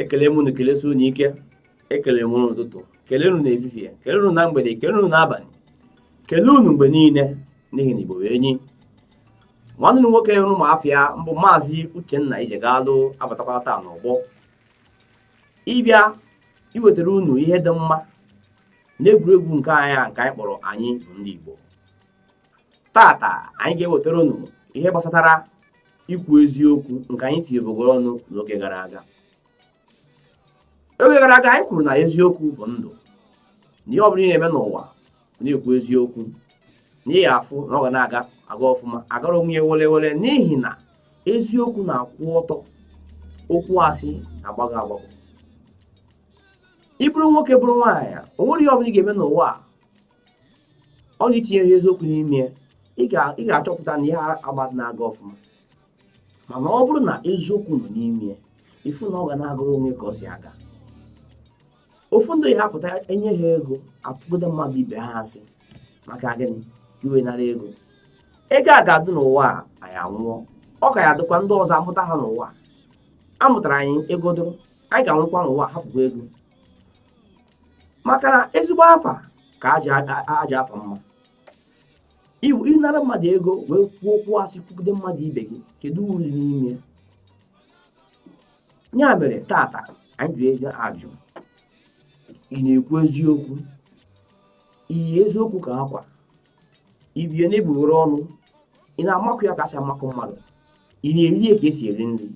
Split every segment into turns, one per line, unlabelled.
ekele m unu kelesie unu ike ekele m unu n'ụtụtụ kelee unu n'efifie kelee unu na mgbede kelee unu n'abalị kelee unu mgbe niile n'ihi na ezigbo enyi nwanne m nwoke unu ma afa ya bụ maazị uchenna ijegalu abatakwala taa n'ọgbọ ịbịa iwetara unu ihe dị mma n'egwuregwu nke anyị nke anyị kpọrọ anyị bụ ndị igbo tata anyị ga-ewetara unu ihe gbasatara ikwu eziokwu nke anyị tinyebugoro ọnụ n'oge gara aga oge gara aga anyị kwuru na eziokwu bụ ndụ na ihe ọ bụla ị na-eme n'ụwa na-ekwu eziokwu na ị ya-afụ na ọ ga na-aga aga ọfụma agara onwe ya were were n'ihi na eziokwu na-akwụ ọtọ okwu asị na-agbagọ agbagọ ị bụrụ nwoke bụrụ nwaanyị o nwere ihe ọ bụla ị ga-eme n'ụwa a ọ ga-etinye ihe eziokwu n'ime ya ị ga- ị ga-achọpụta na ihe agbata na-aga ọfụma mana ọ bụrụ na eziokwu nọ n'ime ya ị fụ na ọ ga na-agara onwe ka o si aga ụfọdụ ya-apụta enye ha ego atụgide mmadụ ibe ha asị maka gịnị i wee nara ego ego a ga-adị n'ụwa a anyị anwụọ ọ ka ya-adịkwa ndị ọzọ amụta ha n'ụwa a mụtara anyị ego dị anyị ga-anwụkwa n'ụwa hapụkwa ego maka na ezigbo afa ka ajọ afa mma ịnara mmadụ ego wee kwuo okwu asị kwugide mmadụ ibe gị kedu uru dị n'ime ya mere tata anyị ji ajụ ị na-ekwu eziokwu i yi eziokwu ka akwa ibie na-ebughoro ọnụ ị na-amakụ ya ka esi amakụ mmadụ ị na-eri ya ka esi eri nri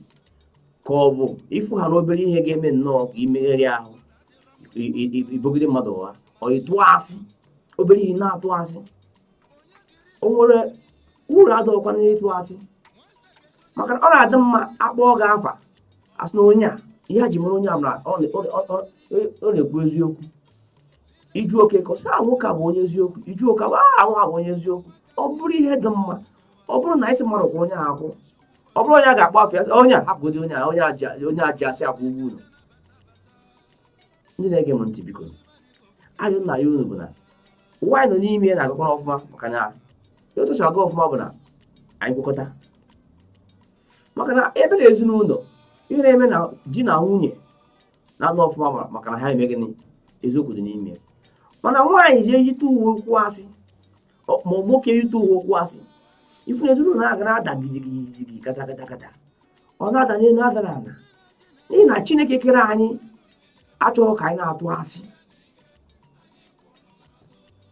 ka ọ bụ ị fụ ha na obere ihe ga-eme nnọọ ka imegharị ahụ ibogide mmadụ ụgha ọ ịtụ asị obere ihe na-atụ asị o nwere uru dịkwa n'ịtụ asị maka ọ na-adị mma a kpọọ gị afa a sị na onye a ihe e ji mara onye a na ọ na-ekwu eziokwu ị jụọ okeke ọ sị nwoke a bụ onye eziokwu ị jụọ oke bụ ahụ abụ onye eziokwu ọ bụrụ ihe dị mma ọ bụrụ na ị sị mmadụ kpọọ onye ahụ ọ bụrụ onye a ga-akpọ afa onye a hapụgodi onye a onye a ji asị akwụ ụgwọ unu ndị na-ege m ntị biko ihe anyị na-ayọ unu bụ na ụwa anyị nọ n'ime ya na-aga aga ọfụma maka na otu o si aga ọfụma bụ na anyị kwekọta maka na ị bịa na ezinụnọ ihe na-eme na di na nwunye na-aga ọfụma bụ maka na ha na-eme gịnị eziokwu dị n'ime ya mana nwaanyị ji eyite uwe okwu asị ma nwoke ị tụwa okwu asị ị fụ na ezinụlọ a ga na-ada gidigidi kata kata kata ọ na-ada n'elu ada na ala n'ihi na chineke kere anyị achọghị ka anyị na-atụ asị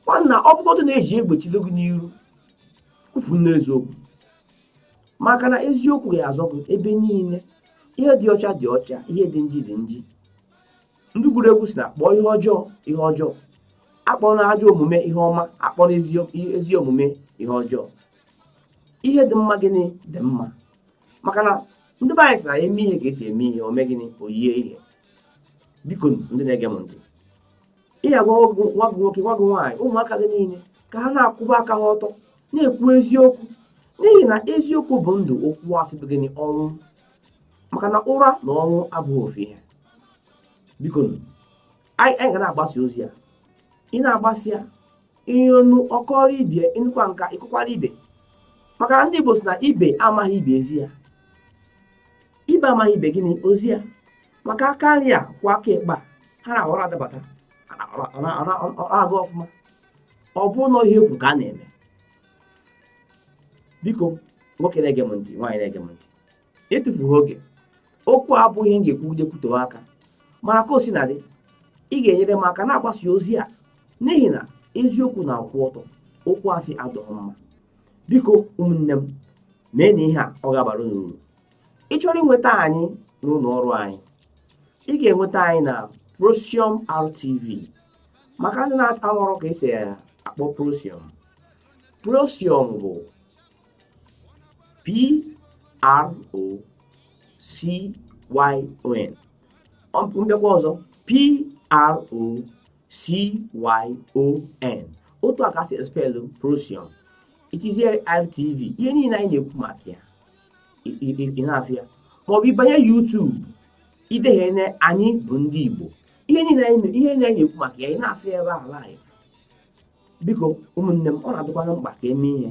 nwanna ọ bụgodị na eji egbe chido gị n'iru kwupụ n'eziokwu maka na eziokwu ya-azọ gị ebe niile ihe dị ọcha dị ọcha ihe dị nji dị nji ndị gụrụ egwu sị na kpọọ ihe ọjọọ ihe ọjọọ akpọna ajọ omume ihe ọma akpọna ezi omume ihe ọjọọ ihe dị mma gịnị dị mma maka na ndị be anyị sị na e mee ihe ka esi eme ihe o mee gịnị o yie ihe biko ndị na-ege m ntị ị ya-agwa nwa gị nwoke nwa gị nwaanyị ụmụaka gị niile ka ha na-akwụba aka ha ọtọ na-ekwu eziokwu n'ihi na eziokwu bụ ndụ okwu asị bụ gịnị ọnwụ maka na ụra na ọnwụ abụghị ofu ihe bikonụ anyị ga na-agbasa ozi a ị na-agbasa ya onye nụ ọ kọọrọ ibe ị nụkwa nke a ị kọkwara ibe maka na ndị Igbo sị na ibe amaghị ibe ezi ya ibe amaghị ibe gịnị ozi ya maka aka nri akwọ aka ịkpa ha na ha na-adabata na-aga ọfụma ọ bụ na ihe e kwuru ka a na-eme biko nwoke na-ege m ntị nwaanyị na-ege m ntị etufughị oge okwu a abụghị m ga-ekwugide kwutewe aka mana ka o sina dị ị ga-enyere m aka na-agbasa ozi a n'ihi na eziokwu na-akwụ ọtọ okwu asị adịghị mma biko ụmụnne m meenụ ihe a ọ ga-abara unu uru ị chọrọ ịnweta anyị n'ụlọ ọrụ anyị ị ga-enweta anyị na Procyon RTV maka ndị na-amarọ ka esi akpọ Procyon Procyon bụ p-r-o-c-y-o-n m bịakwa ọzọ p-r-o-c-y-o-n otu a ka esi espelụ Procyon i tiziere RTV ihe niile anyị na-ekwu maka ya ị na-afụ ya maọbụ ịbanye YouTube ideghe na anyị bụ ndị Igbo ihe niile anyị na-ekwu maka ya ị na-afụ ya ebe a live biko ụmụnne m ọ na-adịkwana mkpa ka eme ihe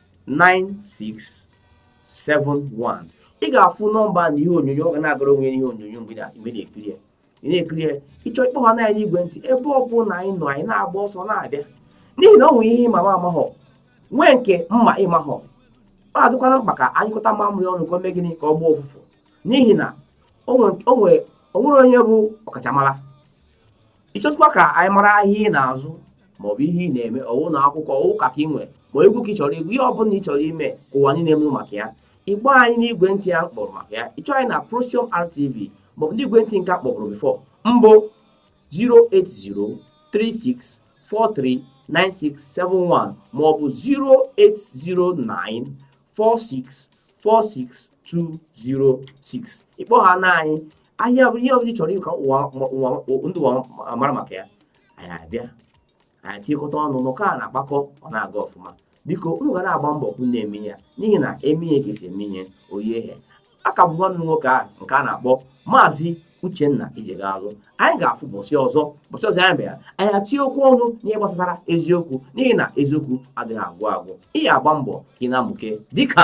9671 ị ga-afụ nọmba na ihe onyonyo ọ ga na-agara onwe ya n'ihe onyonyo mgbe ị na-ekiri ya ị na-ekiri ya ị chọọ ịkpọ anyị n'igwe ntị ebe ọ bụna anyị nọ anyị na-agba ọsọ na-abịa n'ihi na ọ nwere ihe ị ma m amahọ nwee nke m ma ị mahọ ọ na-adịkwana mkpa ka a nyụkọta mamịrị ọnụ ka o mee gịnị ka ọ gbọọ ụfụfụ n'ihi na o nwere onye bụ ọkachamara ịchọzikwa ka anyị mara ahịa ị na-azụ maọbụ ihe ị na-eme ọwụ ụnọ akwụkwọ ọwụ ụka ka ị nwere ma egwu ka ị chọrọ igwu ihe ọ bụla ị chọrọ ime ka ụwa niile mara maka ya ịgba anyị n'igwe ntị a kpọrọ maka ya ịchọ anyị na Prosium RTV maọbụ n'igwe ntị nke a kpọburu before mbụ 08036439671 maọbụ 08094646206 ị kpọhana anyị ahịa ọbụla ihe ọbụla ị chọrọ ka ụwa ma- ụwa ndị ụwa ma- mara maka ya anyị abịa anyị achịkọta ọnụ n'ụka a na-akpakọ ọ na-aga ọfụma biko unu ga na-agba mbọ ka unu na-eme ya n'ihi na e mee ihe ka esi eme ihe o yie ihe aka bụ nwanne unu nwoke a nke a na-akpọ maazị uchenna ijegalụ anyị ga-afụ ụbọsị ọzọ ụbọsị ọzọ anyị bịara anyị atinye okwu ọnụ n'ihe gbasatara eziokwu n'ihi na eziokwu adịghị agwụ agwụ ị ga-agba mbọ ka ị na-amụke dịka